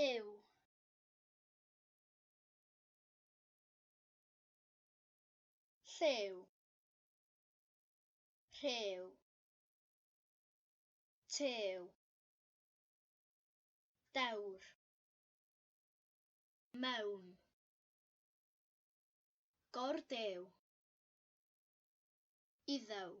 yw. Lliw. Rhyw. Tew. Dewr. Mewn. Gordew. Iddew.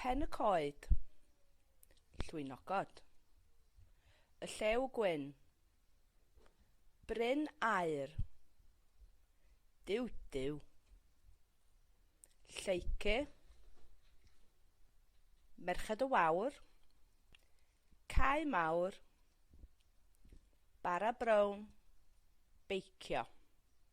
Pen y coed. Llwynogod. Y llew gwyn. Bryn aer. Dyw dyw. Lleicu. Merched y wawr. Cau mawr. Bara brown. Beicio.